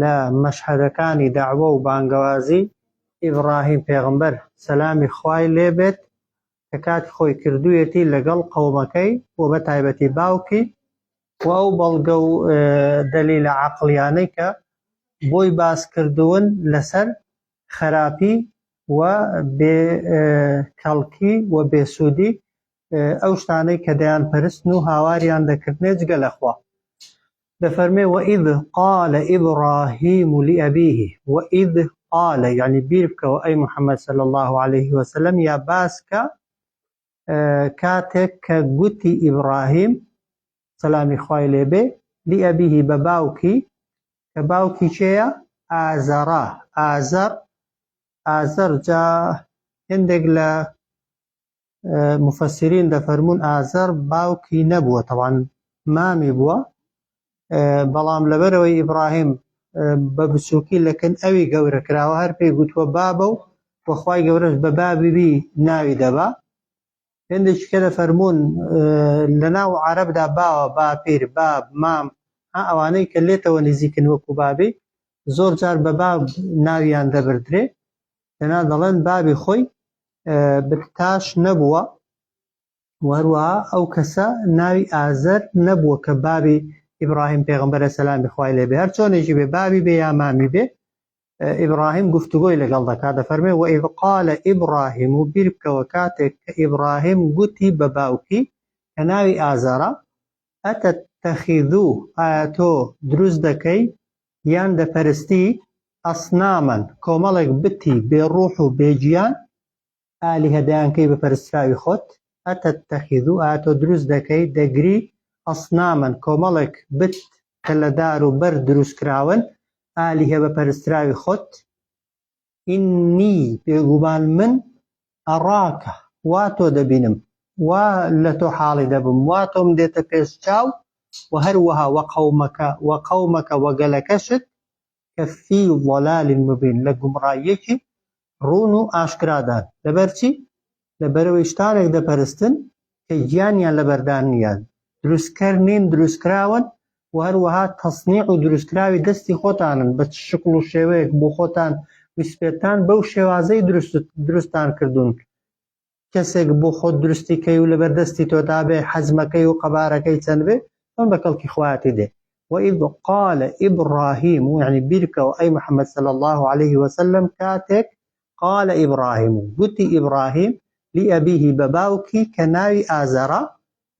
لە مەشهەدەکانی دەعوە و بانگەوازی ئیبڕاهیم پێغەمبەر، سەلامی خوای لێ بێت، کە کاتی خۆی کردوویەتی لەگەڵ قەومەکەی و بە تایبەتی باوکی، وە ئەو بەڵگە و دەلیلە عەقڵیانەی کە بۆی باس کردوون لەسەر خەراپی و بێ کەڵکی و بێ سوودی ئەو شتانەی کە دەیانپەرستن و هاواریان دەکردنێ جگە لە خوا. دەفەرمێ وەئیذ قال ابراهیم لابیه وەئیذ قال یعنی بیر بکەوە ئەی محمد صلی الله علیه وسلم یا باس کە کاتێک کە گوتی ئیبراهیم سەلامی خوای لێبێ لابیه بە باوکی کە باوکی چێە ئازەڕە ئازەر ئازەر جا هندێک لە مفسرین دەفەرمون ئازەر باوکی نەبووە تەوان مامی بووە بەڵام لەبەرەوەی ئیبراهیم بە بچووکی لەکن ئەوی گەورە کراوە هەر پێی گوتووە بابە و وەخوای گەورەش بە بابیبی ناوی دەبا هندێکی کە دەفەرمون لە ناو عربدا باوە باپیر باب مام ها ئەوانەی کە لێتەوە نزیکن وەکو بابی زۆر جار بە باب ناویان دەبردرێ دەنا دەڵێن بابی خۆی بکتاش نەبووە و هەروەها ئەو کەسە ناوی ئازەر نەبووە کە بابی ئیبراهیم پێغمبەرە سەلامی خوای لێبێ هەر چۆنێکی بێ بابی بێ یا مامی بێ ئیبراهیم گفتوگۆی لەگەڵ دەکات دەفەرمێ و ئیبقالە ئیبراهیم و بیرکەوە کاتێک کە ئیبراهیم گوتی بە باوکی کە ناوی ئازارە ئەتە تەخیدوو ئایا تۆ دروست دەکەی یان دەپەرستی، اصناما، کۆمەڵێک بتی بێ ڕوح و بێ گیان، آلهە، دەیانکەی بە پەرستراوی خۆت، اتتخذ، ئایا تۆ دروست دەکەی، دەگری، اصناما، کۆمەڵێک بت کە لە دار و بەرد دروست کراون، آلهە، بە پەرستراوی خۆت؟ ئیننی، بێگومان من، ئەڕاکە، وا تۆ دەبینم، وا لە تۆ حاڵی دەبم، وا تۆم دێتە پێش چاو، وە هەروەها وە قەومەکە، وە قەومەکە، وە گەلەکەشت، کە فی ضلال مبین، لە گومڕاییەکی ڕوون و ئاشکرادان، لەبەرچی؟ لە بەرەوەی شتانێک دەپەرستن کە گیانیان لەبەردا نییە، دروستکەر نین، دروستکراون و هەروەها تەسنیع و دروستکراوی دەستی خۆتانن، بە چ شکڵ و شێوەیەک بۆ خۆتان ویسپێتتان بەو شێوازەی دروستتان کردوون، کەسێک بۆ خۆت دروستی کەی و لەبەر دەستی تۆدا بێ، حەجمەکەی و قەبارەکەی چەند بێ، چۆن بە کەڵکی خوایەتی دێ. وإذ قال إبراهیم، یەعنی بیرکەوە ئەی محەمەد صلی اللە علیه وسلم کاتێک قال ابراهیم گوتی ابراهیم لابیه بە باوکی کە ناوی ئازەرە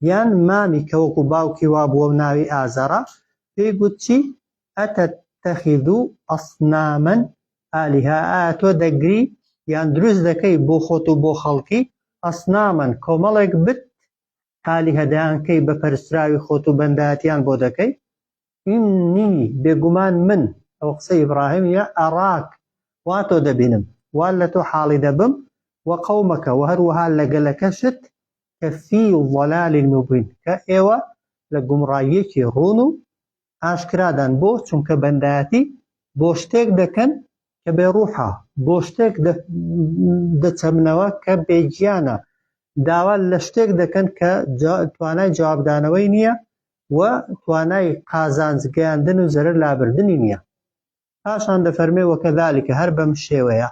یان مامی کە وەکو باوکی وابووە و ناوی ئازەرە پێی گوت چی اتتخذ اصناما الهە ئایا تۆ دەگری یان دروست دەکەی بۆ خۆت و بۆ خەڵکی اصناما کۆمەڵێک بت الهە دەیانکەی بە پەرستراوی خۆت و بەندایەتیان بۆ دەکەی ئیننی، بێگومان من، ئەوە قسەی ئیبڕاهیم یە، ئەڕاک، وا تۆ دەبینم، وا لە تۆ حاڵی دەبم، وە قەومەکە، وە هەروەها لە گەلەکەشت، کە فی ضلال مبین، کە ئێوە لە گومڕاییەکی ڕوون و ئاشکرادان، بۆ؟ چونکە بەندایەتی بۆ شتێک دەکەن کە بێ ڕوحە، بۆ شتێک دەچەمنەوە کە بێ گیانە، داوا لە شتێک دەکەن کە توانای جوابدانەوەی نیە، و توانای قازانج گەیاندن و زەرەر لابردنی نییە. پاشان دەفەرمێ وەکەذالک هەر بەم شێوەیە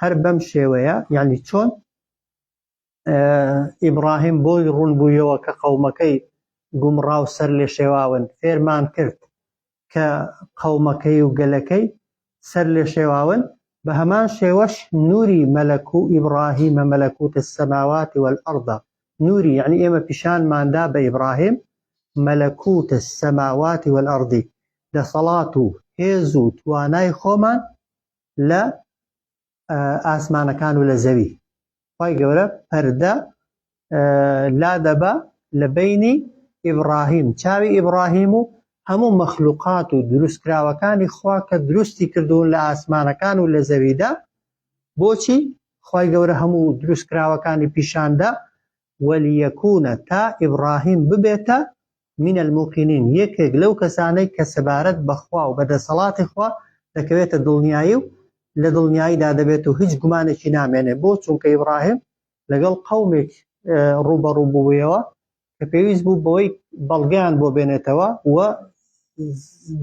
هەر بەم شێوەیە یانی چۆن ئیبڕاهیم بۆی ڕوون بوویەوە کە قەومەکەی گومڕا و سەرلێشێواون فێرمان کرد کە قەومەکەی و گەلەکەی سەر لێ شێواون، بە هەمان شێوەش نوری مەلەک و ابراهیم ملکوت السماوات والارض نوری یەعنی ئێمە پیشانمان دا بە ابراهیم ملکوت السماوات والارض دەسەڵات و هێز و توانای خۆمان لە ئاسمانەکان و لە زەوی خی گەورە پەردە لا دەبا لە بینی ئیبراهیم چاوی ئیبراهیم و هەموو مەخلوقات و دروستکراوەکانی خوا کە دروستی کردوون لە ئاسمانەکان و لە زەویدا بۆچی خی گەورە هەموو دروستکراوەکانی پیشاندا ولیکون تا ئیبڕاهیم ببێتە، من الموقنین، یەکێک لەو کەسانەی کە سەبارەت بە خوا و بە دەسەڵاتی خوا دەکەوێتە دڵنیایی و لە دڵنیاییدا دەبێت و هیچ گومانێکی نامێنێ بۆ چونکە ئیبڕاهیم لەگەڵ قەومێک ڕووبەڕوو بوویەوە کە پێویست بوو بەوەی بەڵگەیان بۆ بێنێتەوە و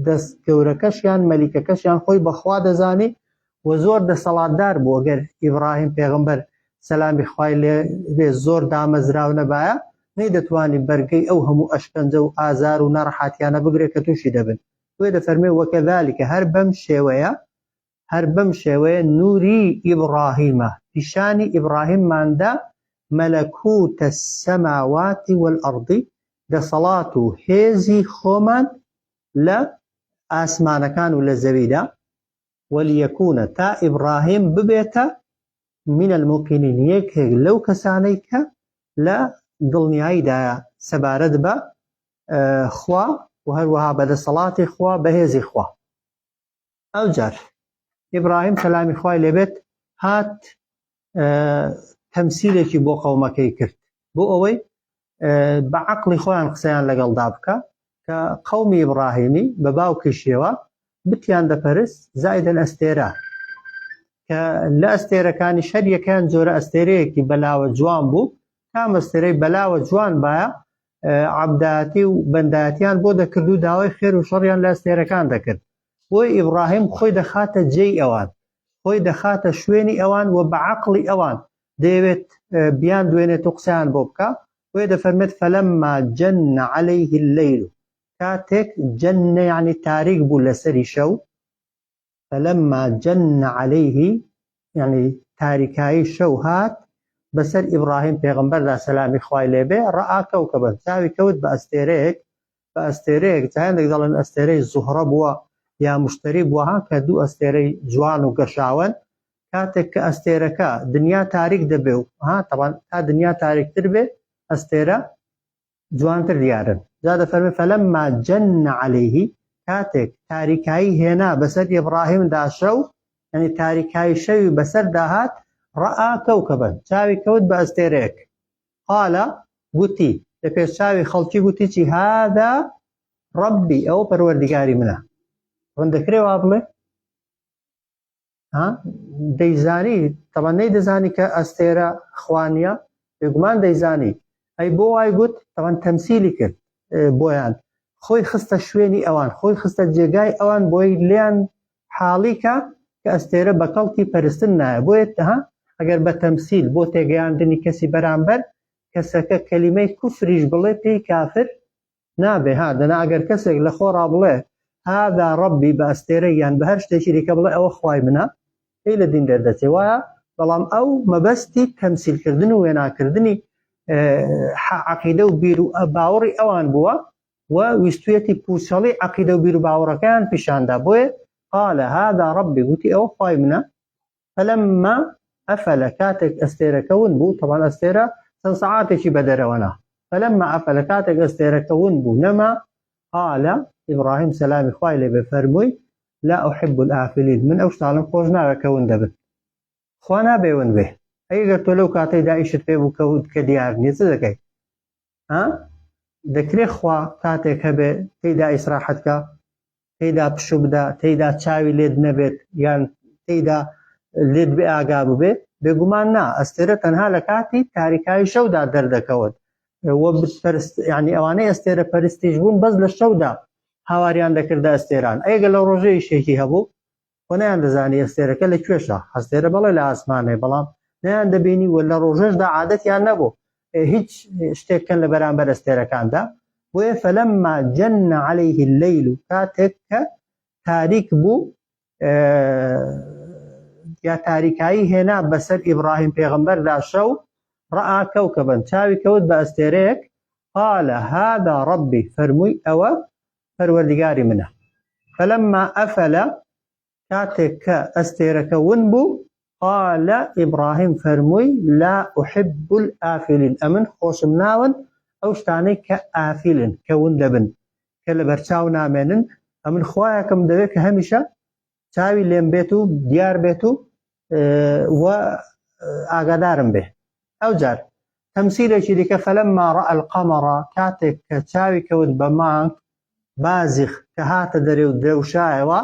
دەست گەورەکەشیان مەلیکەکەشیان خۆی بە خوا دەزانی وە زۆر دەسەڵاتدار بوو گەر ئیبڕاهیم پێغەمبەر سەلامی خوای لێ بێ زۆر دامەزراو نەبایە نەیدەتوانی بەرگەی ئەو هەموو ئەشکەنجە و ئازار و ناڕەحاتیانە بگرێ کە تووشی دەبن بۆیە دەفەرمێ وەکەزالیکە هەر بەم شێوەیە هەر بەم شێوەیە نوری ئیبڕاهیمە پیشانی ئیبڕاهیممان دا مەلەکوتە سەماواتی وەلئەڕدی دەسەڵات و هێزی خۆمان لە ئاسمانەکان و لە زەویدا ولیکون تا ئیبڕاهیم ببێتە من الموقنین یەکێک لەو کەسانەی کە لە دڵنیاییدایە سەبارەت بە خوا و هەروەها بە دەسەڵاتی خوا بەهێزی خوا ئەوجار ئیبراهیم سەلامی خوای لێبێت هات تەمسیلێکی بۆ قەومەکەی کرد بۆ ئەوەی بە عقلی خۆیان قسەیان لەگەڵدا بکە کە قەومی ئیبراهیمی بە باوکیشیەوە بتیان دەپەرست زایدن ئەستێرە کە لە ئەستێرەکانی شەریەکان جۆرە ئەستێرەیەکی بەلاوە جوان بوو تا مەستێرەی بەلاوە جوان باە عبداتی و بەنداتیان بۆ دەکرد و داوای خێر و شەڕیان لە ئەستێرەکان دەکرد بۆیە ئیبڕاهیم خۆی دەخاتە جێی ئەوان، خۆی دەخاتە شوێنی ئەوان و بە عەقڵی ئەوان دەیەوێت بیاندوێنێت و قسەیان بۆ بکا، بۆیە دەفەرمێت، فلما جن علیه اللیل، کاتێک، جن، یەعنی تاریک بوو لەسەری شەو، فلما جن علیه، یەعنی تاریکایی شەو هات بەسەر ئیبڕاهیم پێغەمبەردا سەلامی خوای لێبێ، ڕاء کوکبا، چاوی کەوت بە ئەستێرەیەک، بە ئەستێرەیەک جا هەندێک دەڵێن ئەستێرەی زوهڕە بووە یا مشتری بووە ها کە دوو ئەستێرەی جوان و گەشاوەن کاتێک کە ئەستێرەکە دنیا تاریک دەبێ و ها تەوان تا دنیا تاریکتر بێ ئەستێرە جوانتر دیارن جا دەفەرمێ فەلەم ماجەن عليهەیهی کاتێک تاریکایی هێنا بەسەر ئبراهیم داشە و ئەنی تاریکایی شەوی بەسەر داهات ڕەئا کەوکەبن چاوی کەوت بە ئەستێرەیەک قال گوتی، لە پێشچاوی خەڵکی گوتی چی، هذا ربی، ئەوە پەروەردیگاری منە. ڕەن دەکرێ وا بڵێ؟ ها؟ دەیزانی، تەڵە نەیدەزانی کە ئەستێرە خوا نیە؟ بێگومان دەیزانی. ئەی بۆ وای گوت؟ تەڵەن تەمسیلی کرد بۆیان. خۆی خستە شوێنی ئەوان، خۆی خستە جێگای ئەوان بۆی لێیان حاڵیکە کە ئەستێرە بە کەڵکی پەرستن نایە بۆیە تها ئەگەر بە تەمسیل بۆ تێگەیاندنی کەسی بەرامبەر کەسەکە کەلیمەی کوفریش بڵێ پێی کافر نابێ ها دەنا ئەگەر کەسێک لە خۆڕا بڵێ هادا ڕەبی بە ئەستێرە یان بە هەر شتێکی دیکە بڵێ ئەوە خوای منە پێی لە دین دەردەچێ وایە بەڵام ئەو مەبەستی تەمسیلکردن و وێناکردنی عقیدە و بیر و باوەڕی ئەوان بووە و ویستویەتی پوچەڵی عەقیدە و بیروباوەڕەکەیان پیشاندا بۆیە قال هذا ربی وتی ئەوە خوای منە فلما افل کاتێک ئەستێرەکە ون بوو طبعا ئەستێرە چەند سەعاتێکی بەدەرەوەنا فلما افل کاتێک ئەستێرەکە ون بوو نەما قال ابراهیم سەلامی خوای لێ بفەرمووی لا احب الافلین من ئەو شتانم خۆش ناوێ کە ون دەبن خوا نابێ ون بێ ئەگەر تۆ لەو کاتەی دائیشت پێ بوو کە دیار نیە چ دەکەیت ها دەکرێ خوا کاتێک هەبێ تێیدا ئیسراحەت کە تێیدا پشو بدە تێیدا چاوی لێت نەبێت یان تێیدا لێت بێ ئاگا ببێ بێگومان نا ئەستێرە تەنها لە کاتی تاریکایی شەودا دەردەکەوت وە بتپەرست یعنی ئەوانەی ئەستێرە پەرستیش بوون بەس لە شەودا هاواریان دەکردە ئەستێران ئەگە لە ڕۆژەی شێکی هەبوو و نەیاندەزانی ئەستێرەکە لە کوێشە، هەستێرە بەڵێ لە ئاسمانەی بەڵام نەیاندەبینی و لە ڕۆژێشدا عادەتیان نەبوو هیچ شتێک کەن لە بەرامبەر ئەستێرەکاندا، بۆیە فلما جن علیه اللیل کاتێک کە تاریک بوو یا تاریکایی هێنا بەسەر ئیبراهیم پێغمبەردا شەو ڕآ کەوکەبن چاوی کەوت بە ئەستێرەیەک قال هذا ربی فەرمووی ئەوە پەروەردگاری منە فلما ئەفەلە کاتێک کە ئەستێرەکە ون بوو قالە ئیبراهیم فەرمووی لا ئوحب ئافلین ئەمن خۆشم ناون ئەو شتانەی کە ئافلن کە ون دەبن کە لە بەرچاو نامێنن ئەمن خویەکەم دەوێت کە هەمیشە چاوی لێم بێت و دیار بێت و و ئاگادارم بێ ئەو جار تەمسیلێکی دیکە فەلم ماڕە ئەلقەمەڕە کاتێک کە چاوی کەوت بە مانگ بازیخ کە هاتە دەرێ و درەوشایەوە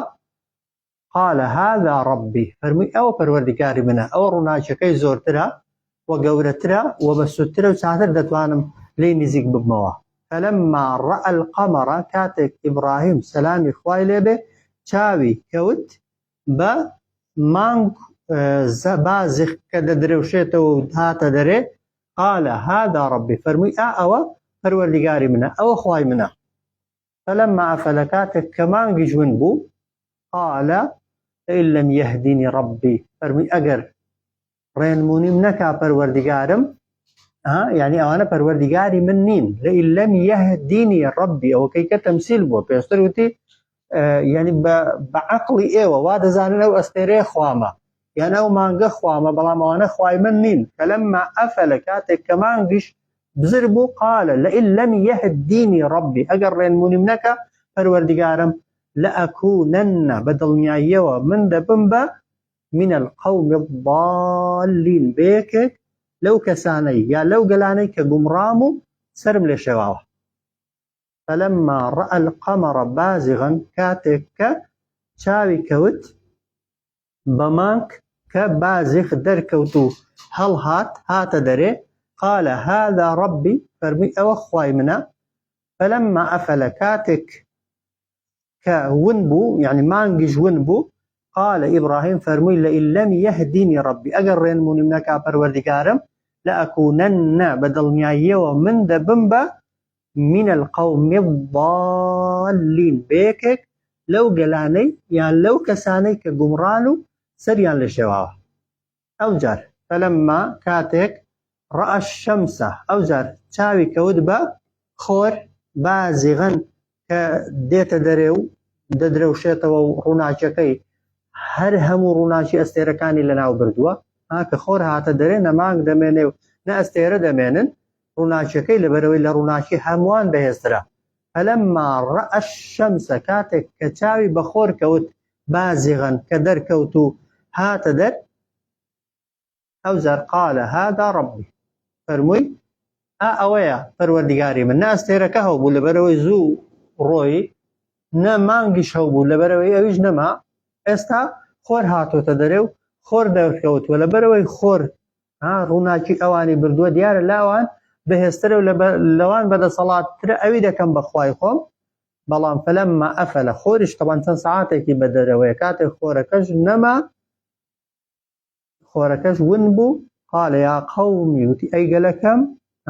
قال هذا ربي فەرمووی ئەوە پەروەردیکاری منە ئەوە ڕووناکیەکەی زۆرترە و گەورەترە و بە سوودترە و چاتر دەتوانم لێی نزیک ببمەوە فلما رأى القمر کاتێک ئیبڕاهیم سەلامی خوای لێ بێ چاوی کەوت بە مانگ بازخ کە دەدرەوشێتەوە و هاتە دەرێ قالە هادا ڕبی فەرمووی ئا ئەوە پەروەردیگاری منە ئەوە خوای منە فەلەم مافە لە کاتێک کە مانگی جون بوو قالە لەم یهدینی ڕبی فەرمووی ئەگەر ڕێنمونیم نەکا پەروەردگارم یعنی ئەوانە پەروەردگاری من نین لەم یهدینی ڕبی ئەوە کەی کە تەمسیل بووە پێشتر وتی یعنی بە عقلی ئێوە وا دەزانن ئەو ئەستێرێ خوامە یان ئەو مانگە خوامە بەڵام ئەوانە خوای من نین کە لەمما ئەفە لە کاتێک کە مانگیش بزر بوو قالە لە لەم یهدینی ڕبی ئەگەر ڕێنمونیم نەکە پەروەردگارم لە ئەکوونەنە بە دڵنیاییەوە من دەبم بە من القوم الضالین بەیەکێک لەو کەسانەی یا لەو گەلانەی کە گومڕام و سرم لێ شێواوە فلما رأى القمر بازغا کاتێک کە چاوی کەوت بەمانک کە بازخ دەرکەوت و هەڵهات هاتە دەرێ قال هذا ربي فەرمی ئەوە خوای منە فلما ئەفەلە کاتێک کە ون بوو یعنی مانگیش ون بوو قال ئیبراهیم فەرمووی لە ئیلەم یهدینی ڕبی ئەگەر ڕێنمونیم نەکا پەروەردگارم لە ئەکوونەنە بە دڵنیاییەوە من دەبم بە من القوم الضالین بەیەکێک لەو گەلانەی یان لەو کەسانەی کە گومڕان و سەریان لە شێواوە ئەوجار، فلما، کاتێک، رأى الشمس، ئەوجار چاوی کەوت بە، خۆر، بازغا، کە دێتە دەرێ و دەدرەوشێتەوە و ڕووناکیەکەی هەر هەموو ڕووناکی ئەستێرەکانی لەناوبردووە، ها کە خۆر هاتە دەرێ نە مانگ دەمێنێ و نە ئەستێرە دەمێنن، ڕووناکیەکەی لەبەرئەوەی لە ڕووناکی هەمووان بەهێزترە، فلما رأى الشمس، کاتێک کە چاوی بە خۆر کەوت، بازغن کە دەرکەوت و هاتە دەر ئەوجار قالە هادا ڕەبی فەرمووی ئا ئەوەیە پەروەردگاری من ناستێرەکە هەبوو لەبەرەوەی زوو ڕۆی نە مانگیش هەبوو لەبەرەوەی ئەویش نەما ئێستا خۆر هاتۆتە دەرێ و خۆر دەرکەوتووە لەبەرەوەی خۆر ڕووناکی ئەوانی بردووە دیارە لاوان بەهێزترە و لەوان بەدەسەڵاتترە ئەوی دەکەم بەخوای خۆم بەڵام فلما افل خۆریش تەبان چەند سەعاتێکی بە دەرەوەیە کاتێک خۆرەکەش نەما خۆرەکەش ون بوو قال یا قومی وتی ئەی گەلەکەم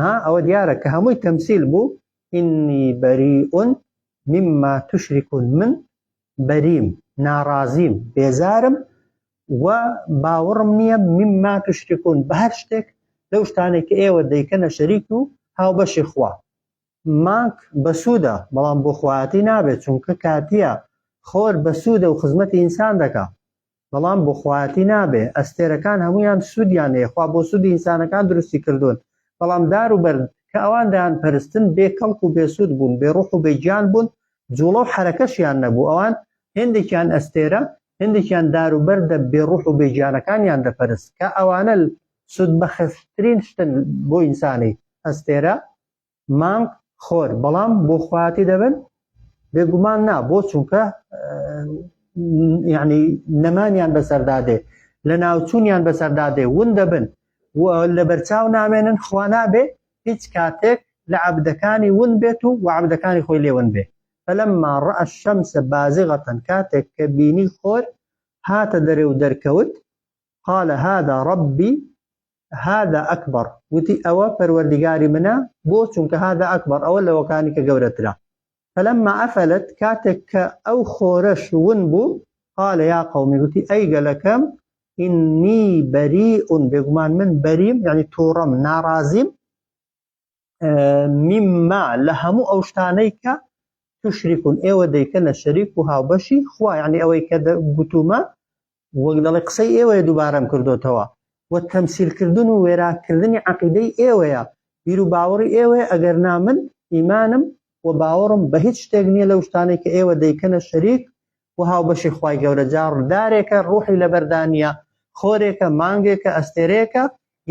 ها ئەوە دیارە کە هەمووی تەمسیل بوو ئینی بەریئون مما تشرکون من بەریم ناڕازیم بێزارم و باوەڕم نییە مما تشرکون بە هەر شتێک لەو شتانێک کە ئێوە دەیکەنە شەریک و هاوبەشی خوا مانک بەسوودە بەڵام بۆ خۆیاتی نابێت چونکە کاتیە خۆر بەسوودە و خزمەتی ئینسان دەکا بەڵام بۆ خۆیاتی نابێ ئەستێرەکان هەموویان سوودیان هەیە خوا بۆ سوودی ئینسانەکان دروستی کردوون بەڵام دار و بەرد کە ئەوان دەیان پەرستن بێ کەڵک و بێ سوود بوون بێ ڕوح و بێ گیان بوون جوڵە و حەرەکەشیان نەبوو ئەوان هێندێکیان ئەستێرە هێندێکیان دار و بەردە بێ ڕوح و بێ گیانەکانیان دەپەرست کە ئەوانە سوودبەخشترین شتن بۆ ئینسانی ئەستێرە مانگ خۆر بەڵام بۆ خواتی دەبن بێگومان نا بۆ چونکە یعنی نەمانیان بەسەردادێ لە ناوچوونیان بەسەردادێ ون دەبن لە بەرچاو نامێنن خوا نابێ هیچ کاتێک لە عبدەکانی ون بێت و وعبدەکانی خۆی لێون بێ فلما ڕە شەمسە بازغەتەن کاتێک کە بینی خۆر هاتە دەرێ و دەرکەوت قال هذا ربي هذا اکبر وتی ئەوە پەروەردیگاری منە بۆ چونکە هذا اکبر ئەوە لەوەکانی کە گەورەترە فلما افلت کاتێک کە ئەو خۆرەش ون بوو قال یا قومی وتی ئەی گەلەکەم ئینی بەریئون بێگومان من بەریم یعنی تووڕەم ناڕازیم مما لە هەموو ئەو شتانەی کە تشریکون ئێوە دەیکەنە شەریک و هاوبەشی خوا یعنی ئەوەی کە گوتومە وەک دەڵێ قسەی ئێوە دووبارەم کردوتەوە و تەمسیلکردن و وێراکردنی عقیدەی ئێوەیە بیر و باوەڕی ئێوەیە ئەگەر نامن ئیمانم و باوەڕم بە هیچ شتێک نییە لەو شتانەی کە ئێوە دەیکەنە شەریک و هاوبەشی خوای گەورە جا ڕدارێکە ڕوحی لەبەردانیە خۆرێکە مانگێکە ئەستێرەیەکە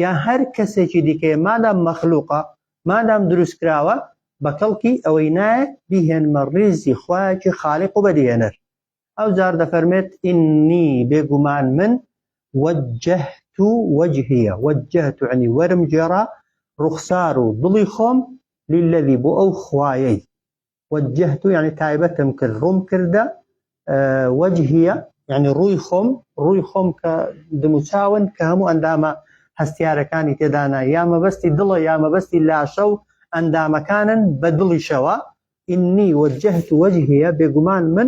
یا هەر کەسێکی دیکەیە مادام مەخلوقە مادام دروستکراوە بەکەڵکی ئەوەی نایە بیهێنمە ڕیزی خوایەکی خالق و بەدیهێنەر ئەو جار دەفەرمێت ئینی بێگومان من وجهت وجهیە وجهت عنی وەرم جێرا ڕوخسار و دڵی خۆم للذی بۆ ئەو خوایەی وجهت یعنی تایبەتم کرد ڕوم کردە وەجهە یعنی ڕووی خۆم ڕووی خۆم کە دموچاون کە هەموو ئەندامە هەستیارەکانی تێدانا یا مەبەستی دڵە یا مەبەستی لاشە و ئەندامەکانن بە دڵیشەوە ئینی وەجهت وەجهە بێگومان من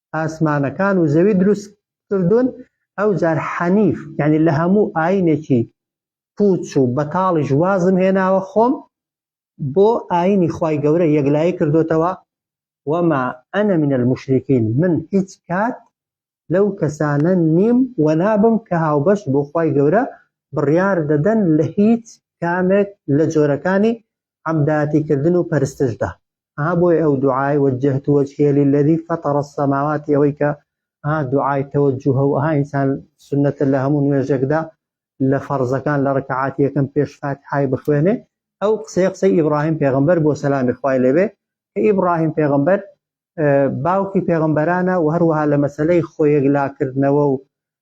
ئاسمانەکان و زەوی دروست کردوون ئەو جار حەنیف یعنی لە هەموو ئاینێکی پوچ و بەتاڵیش وازم هێناوە خۆم بۆ ئاینی خی گەورە یەکلایی کردوتەوە وەما ئەنە منە المشرکین من هیچ کات لەو کەسانە نیم و نابم کە هاوبەش بۆ خی گەورە بڕیار دەدەن لە هیچ کامێک لە جۆرەکانی عەبداتی کردن و پەرستش دا. ها بۆیە ئەو دوعای، وجهت وجهی للذی فطر السماوات، ئەوەی کە ها دوعای تەوەجوهە و ها ئینسان سوننەتە لە هەموو نوێژێکدا لە فەرزەکان لە ڕکەعاتی یەکەم پێش فاتیحای بخوێنێ، ئەو قسەیە قسەی ئیبڕاهیم پێغەمبەر بووە سەلامی خوای لێ بێ، کە ئیبڕاهیم پێغەمبەر باوکی پێغەمبەرانە و هەروەها لە مەسەلەی خۆیەکلاکردنەوە و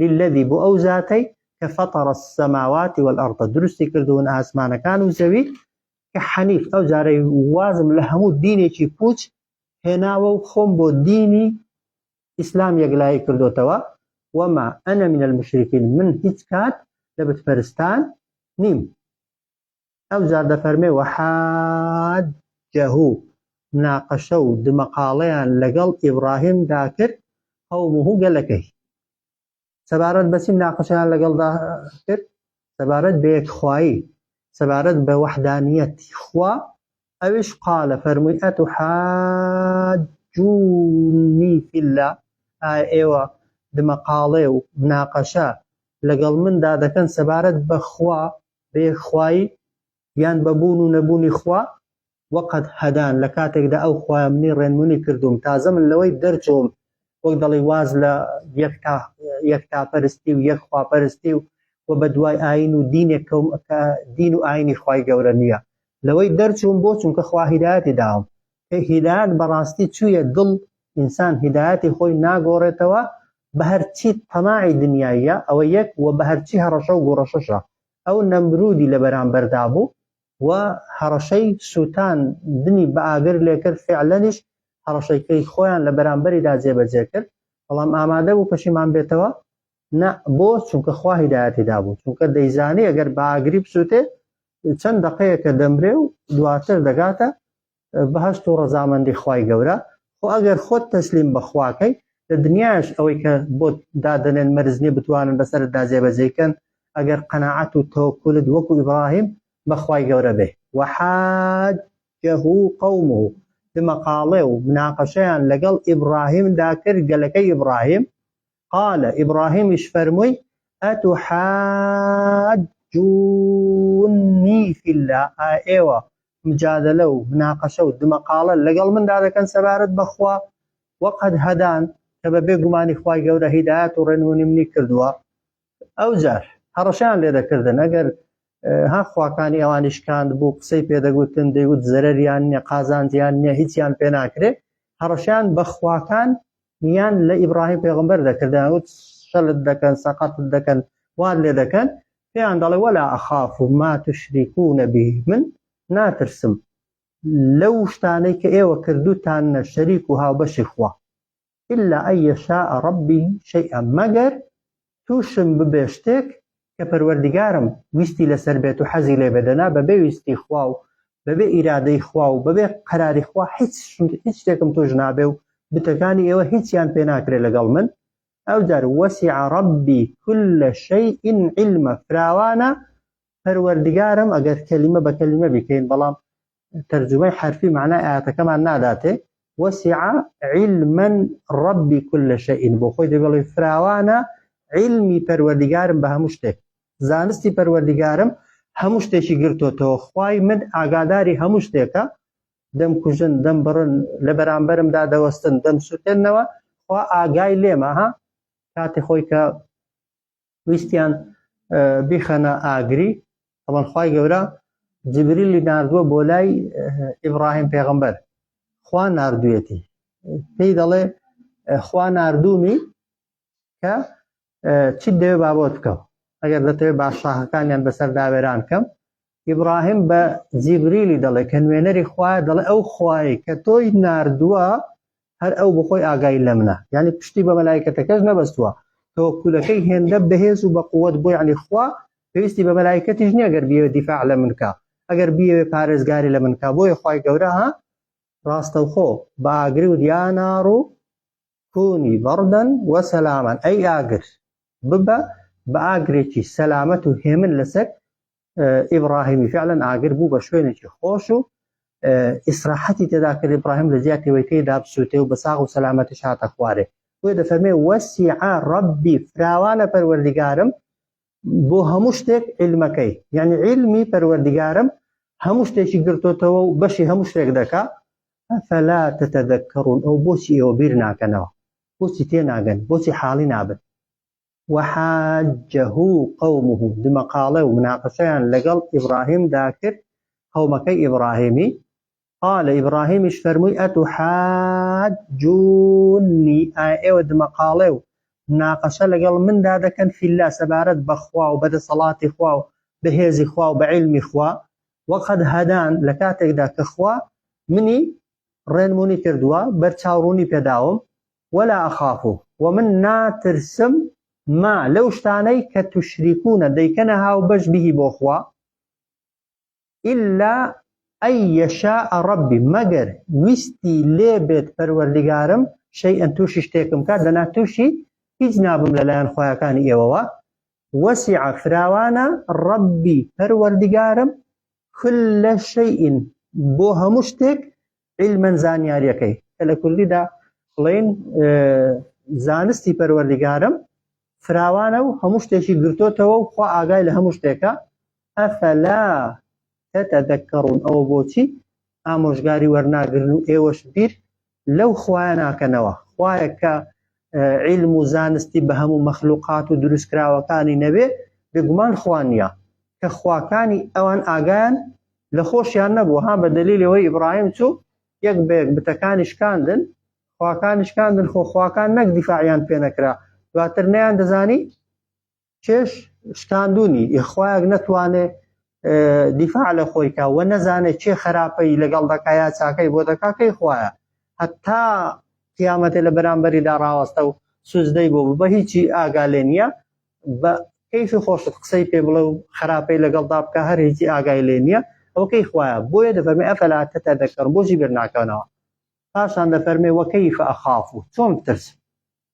للذی بۆ ئەو زاتەی کە فطر السماوات والارض دروستی کردوون ئاسمانەکان و زەوی کە حەنیف ئەو جارەی وازم لە هەموو دینێکی پوچ هێناوە و خۆم بۆ دینی ئیسلام یەکلایی کردوتەوە وما انا من المشرکین من هیچ کات لە بتپەرستان نیم ئەوجار دەفەرمێ، وحاجه، مناقەشە و دمەقاڵەیان لەگەڵ ئیبڕاهیم دا کرد، قومه، گەلەکەی. سەبارەت بە چی مناقەشەیان لەگەڵدا کرد؟ سەبارەت بە یەکخوایی، سەبارەت بە وحدانیەتی خوا، ئەویش، قالە، فەرمووی، اتحاجونی فی اللە، ئایا ئێوە دمەقاڵێ و مناقەشە لەگەڵ مندا دەکەن سەبارەت بە خوا، بە یەکخوایی یان بە بوون و نەبوونی خوا، وە قەد هەدان، لە کاتێکدا ئەو خوایە منی ڕێنمونی کردووم، تازە من لەوەی دەرچووم، وەک دەڵی واز لە یەکتا یەکتاپەرستی و یەک خواپەرستی و وە بە دوای ئاین و دینێک کەوم کە دین و ئاینی خوای گەورە نیە، لەوەی دەرچووم بۆ چونکە خوا هیدایەتی داوم، کە هیدایەت بەڕاستی چوویە دڵ ئینسان هیدایەتی خۆی ناگۆڕێتەوە بەهەرچی تەماعی دنیاییە ئەوە یەک وە بەهەرچی هەڕەشە و گوڕەشەشە ئەو نەمرودی لەبەرامبەردا بوو و هەڕەشەی سووتان دنی بە ئاگر لێکرد فعلەنیش هەڕەشەی کەی خۆیان لەبەرامبەریدا جێبەجێ کرد بەڵام ئامادە بوو پەشیمان بێتەوە نا بۆ چونکە خوا هیدایەتی دابوو چونکە دەیزانێ ئەگەر باگری بسووتێ چەند دقەیەکە دەمرێ و دواتر دەگاتە بەهشت و ڕەزامەندی خی گەورە خۆ ئەگەر خۆت تەسلیم بەخواکەی لە دنیاش ئەوەی کە بۆ دادنێن مەرزنی بتوانن بەسەر دازێبەجێکەن ئەگەر قەنەعات و تەوەکولت وەکو ئیبراهیم بەخوای گەورە بێ وحاجه قومه بمەقاڵێ و مناقەشەیان لەگەڵ ئیبراهیمدا کرد گەلەکەی ئیبراهیم قال ئیبڕاهیمیش فەرمووی، ئەتوحاجونی فی اللە، ئایا ئێوە مجادەلە و مناقەشە و دمەقاڵە لەگەڵ مندا دەکەن سەبارەت بە خوا، وقد هدان، کە بە بێ گومانی خوای گەورە هیدایەت و ڕێنمونی منی کردووە، ئەوجار هەڕەشەیان لێ دەکردن ئەگەر ها خواکانی ئەوانی شکاند بوو قسەی پێدەگوتن دەیوت زەرریان نیە قازانجیان نیە هیچیان پێ ناکرێت هەڕەشیان بەخواکان یان لە ئیبراهیم پێغمبەر دەکردیان وت شەلت دەکەن سەقەت دەکەن وان لێ دەکەن پێیان دەڵێ وەلا ئەخاف و ما تشریکو نەبی من ناترسم لەو شتانەی کە ئێوە کردوتان نە شەریک و هاوبەشی خوا الا ان یشاء ربی شیئا مەگەر تووشم ببێ شتێک کە پەروەردگارم ویستی لەسەر بێت و حەزی لێ بێت دەنا بەبێ ویستی خوا و بەبێ ئیرادەی خوا و بەبێ قەراری خوا هیچ هیچ شتێکم توش نابێ و بتەکانی ئێوە هیچیان پێ ناکرێ لەگەڵ من ئەوجار وەسیع ربی كل شیء علما فراوانە پەروەردگارم ئەگەر کەلیمە بە کەلیمە بیکەین بەڵام تەرجومەی حەرفی مەعنای ئایەتەکەمان ناداتێ وەسیع علما رب كل شيء بۆ خۆی دەبڵێ فراوانە علمی پەروەردگارم بە هەموو شتێک زانستی پەروەردگارم هەموو شتێکی گرتوتەوە خوای من ئاگاداری هەموو شتێکە دەم کوژن دەم بڕن لە بەرامبەرمدا دەوەستن دەم سووتێنەوە خوا ئاگای لێمە ها کاتی خۆی کە ویستیان بیخەنە ئاگری ئەوان خی گەورە جبریلی نردووە بۆ لای ئیبراهیم پێغمبەر خوا نردوێتی پێی دەڵێ خوا نردومی کە چیت دەوێ بابەت بکەم ئەگەر دەتەوێت باششاهەکانیان بەسەر داوێران کەم ئیبراهیم بە جیبریلی دەڵێ کە نوێنەری خوایە دەڵێ ئەو خوایی کە تۆی ناردووە هەر ئەو بخۆی ئاگای لە منە یعنی پشتی بە مەلایکەتەکەش نەبەستووە تەوەکولەکەی هێندە بەهێز و بەقوت بۆ یعنی خوا پێویستی بە مەلایکەتیش نییە گەر بیەوە دیفاع لە منکە ئەگەر بیەوێ پارێزگاری لە منکە بۆیە خی گەورە ها ڕاستەوخۆ بە ئاگری و دیاناڕ و کونی بەڕدەن و سەلامەن ئەی ئاگر ببە بە ئاگرێکی سەلامەت و هێمن لەسەر ئیبراهیمی فعلەن ئاگر بوو بە شوێنێکی خۆش و ئیسراحەتی تێدا کرد ئیبراهیم لە جیاتی وی پێی دابسووتێ و بە ساغ و سەلامەتی شاتە خوارێ بۆ دەفەرمێ وەسیعە ڕەبی فراوانە پەروەردیگارم بۆ هەموو شتێک علمەکەی یعنی علمی پەروەردگارم هەموو شتێکی گرتۆتەوە و بەشی هەموو شتێک دەکا فەلا تەتەدەکەڕون ئەو بۆچی ئێوە بیر ناکەنەوە بۆچی تێ ناگەن بۆچی حاڵی نابن وحاجه قومه دمەقاڵێ و مناقەشەیان لەگەڵ ئیبراهیم داکرد قەومەکەی ئیبراهیمی قال ئیبڕاهیمیش فەرمووی ئەتوحاجونی ئایا ئێوە دمەقاڵێ و مناقەشە لەگەڵ مندا دەکەن فی اللە سەبارەت بە خوا و بەدەسەڵاتی خوا و بەهێزی خوا و بە عیلمی خوا وەقەد هەدان لە کاتێکدا کە خوا منی ڕێنمونی کردووە بەرچاوڕوونی پێداوم ولا ئەخاف و من ناترسم ما لەو شتانەی کە توشریکوونە دەیکەنە هاو بەش بهی بۆ خوا الا ان یشاء ربی مەگەر ویستی لێ بێت پەروەردگارم شیئا توشی شتێکم کات دەنا توشی هیچ نابم لە لایەن خوایەکانی ئێوەوە وسع فراوانە ربی پەروەردگارم کل شیئ بۆ هەموو شتێک علما زانیاریەکەی کە لە کوردیدا بڵین زانستی پەروەردگارم فراوانە و هەموو شتێکی گرتۆتەوە و خوا ئاگای لە هەموو شتێکە ئەفەلا تەتە دەکەڕون ئەوە بۆچی ئامۆژگاری وەرناگرن و ئێوەش بیر لەو خوایە ناکەنەوە خوایە کە عیلم و زانستی بە هەموو مەخلوقات و دروستکراوەکانی نەبێ، بێگومان خوا نییە، کە خواکانی ئەوان ئاگایان لە خۆشیان نەبوو، ها بە دەلیلی ئەوەی ئیبراهیم چوو یەک بە یەک بتەکانی شکاندن، خواکانی شکاندن، خۆ خواکان نەک دیفاعیان پێ نەکرا، دواتر نەیاندەزانی کێش شکاندونی یخوایەک نەتوانێ دیفاع لە خۆی کا وە نەزانێت چێ خراپەی لەگەڵ دەکا یا چاکەی بۆ دەکا کەی خوایە هەتا قیامەتێ لە بەرامبەریدا ڕاوەستە و سوزدەی بۆ بە هیچی ئاگا لێ نییە بە کەیفی خۆشت قسەی پێ بڵێ و خراپەی لەگەڵدا بکە هەر هیچی ئاگای لێ نییە ئەو کەی خوایە بۆیە دەفەرمی ئەفەلا تەتە دەکەڕ بۆژی بێرناکەنەوە پاشان دەفەرمێ وەکەیف ئەخاف و چۆن بترسم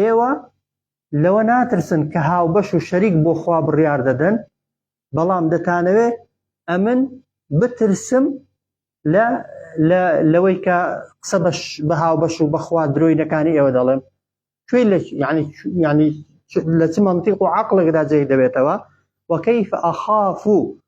ئێوە لەوە ناترسن کە هاوبەش و شەریک بۆ خوا بڕیار دەدەن بەڵام دەتانەوێ ئەمن بترسم لە لەوەی کە قسە بەش بە هاوبەش و بەخوا درۆینەکانی ئێوە دەڵێم کوێ لە ینی ینی لە چ منطق و عقلێکدا جێی دەبێتەوە وەکەیف ئەخاف و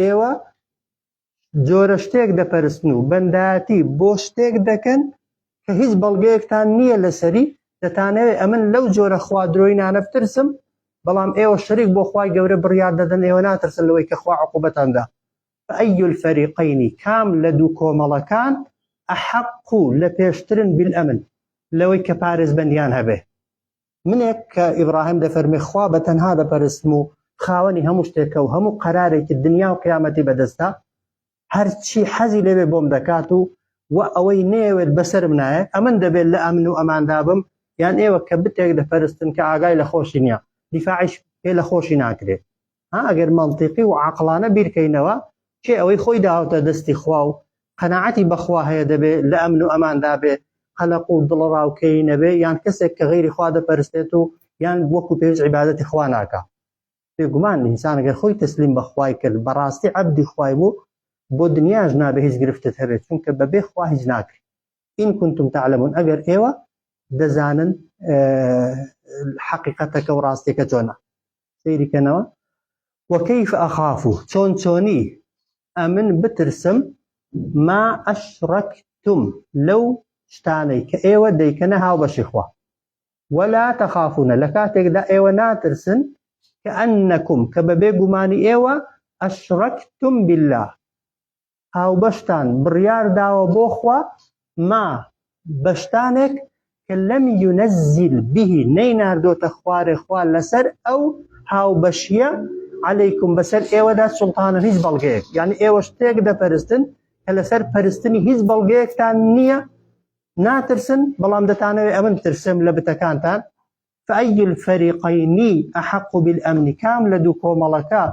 ئێوە جۆرە شتێک دەپەرستن و بەندایەتی بۆ شتێک دەکەن کە هیچ بەڵگەیەکتان نییە لەسەری دەتانەوێ ئەمن لەو جۆرە خوا درۆینانە بترسم بەڵام ئێوە شەریک بۆ خوای گەورە بڕیار دەدەن ئێوە ناترسن لەوەی کە خوا عقوبەتاندا فأي الفريقين کام لە دوو کۆمەڵەکان ئەحەق و لە پێشترن بالئەمن لەوەی کە پارێزبەندیان هەبێ منێک کە ئیبراهیم دەفەرمی خوا بە تەنها دەپەرستم و خاوەنی هەموو شتێکە و هەموو قەرارێکی دنیا و قیامەتی بەدەستە هەرچی حەزی لەوێ بۆم دەکات و و ئەوەی نێوێت بەسرم نایە ئەمن دەبێت لە ئەمن و ئەماندا بم یان ئێوە کە بتێک دەپەرستن کە ئاگای لە خۆشی نییە دیفاعش پێ لە خۆشی ناکرێت ها ئەگەر مەنتیقی و عەقڵانە بیرکەینەوە کێ ئەوەی خۆی داوەتە دەستی خوا و قەناعەتی بەخوا هەیە دەبێ لە ئەمن و ئەماندا بێ قەلەق و دڵەڕاوکێی نەبێ یان کەسێک کە غەیری خوا دەپەرستێت و یان وەکو پێویست عیبادەتی خوا ناکا بێگومان ئینسان گەر خۆی تەسلیم بە خوای کرد بەڕاستی عەبدی خوای بوو بۆ دنیاش نابێ هیچ گرفتت هەبێت چونکە بەبێ خوا هیچ ناکری ئین کنتم تعلمون ئەگەر ئێوە دەزانن حەقیقەتەکە و ڕاستیەکە جۆنە سەیری کەنەوە وەکەیف ئەخافو چۆن چۆنی ئەمن بترسم ما ئەشڕەکتم لەو شتانەی کە ئێوە دەیکەنە هاوبەشی خوا وەلا تەخافونە لە کاتێکدا ئێوە ناترسن کە ئەنەکم کە بەبێ گومانی ئێوە ئەشڕەکتم بالله هاوبەشتان بڕیار داوە بۆ خوا ما بە شتانێک کە لەم یونەزیل بیهی نەیناردۆتە خوارێ خوا لەسەر ئەو هاوبەشیە عەلەیکم بەسەر ئێوەدا سوڵتانە هیچ بەڵگەیەک یعنی ئێوە شتێک دەپەرستن کە لەسەر پەرستنی هیچ بەڵگەیەکتان نییە ناترسن بەڵام دەتانەوێت ئەمن ترسم لە بتەکانتان فای الفریقین احق بالامن کام لە دوو کۆمەڵەکە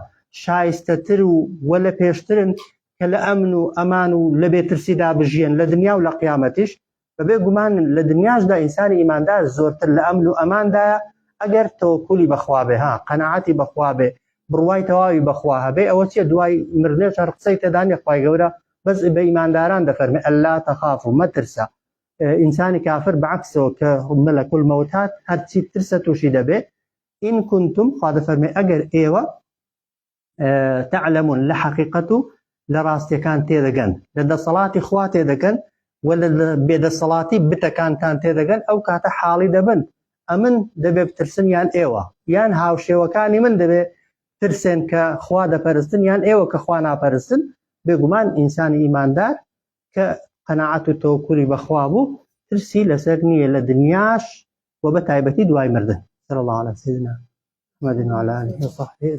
شایستەتر و و لە پێشترن کە لە ئەمن و ئەمان و لە بێ ترسیدا بژیێن لە دنیا و لە قیامەتیش؟ بە بێ گومان لە دنیاشدا ئینسانی ئیماندار زۆرتر لە ئەمن و ئەماندایە ئەگەر تەوەکولی بە خوا بێ ها قەناعەتی بە خوا بێ بڕوای تەواوی بە خوا هەبێ ئەوە چیە دوای مردنێش هەر قسەی تێدا نیە خوای گەورە بەس بە ئیمانداران دەفەرمێ اللە تخافوا مەترسە ئینسانی کافر بە عەکسەوە کە مەلەک المەوت هات هەرچی بترسە تووشی دەبێ ئین کنتم خوا دەفەرمێ ئەگەر ئێوە تعلمون لە حەقیقەت و لە ڕاستیەکان تێدەگەن لە دەسەڵاتی خوا تێدەگەن و لە بێدەسەڵاتی بتەکانتان تێدەگەن ئەو کاتە حاڵی دەبن ئەمن دەبێ بترسن یان ئێوە یان هاوشێوەکانی من دەبێ ترسێن کە خوا دەپەرستن یان ئێوە کە خوا ناپەرستن بێگومان ئینسانی ئیماندار کە قەناعەت و تەوەکولی بەخوا بوو ترسی لەسەر نییە لە دنیاش و بە تایبەتی دوای مردن سەر الله على سيدنا محمد وعلى آله وصحبه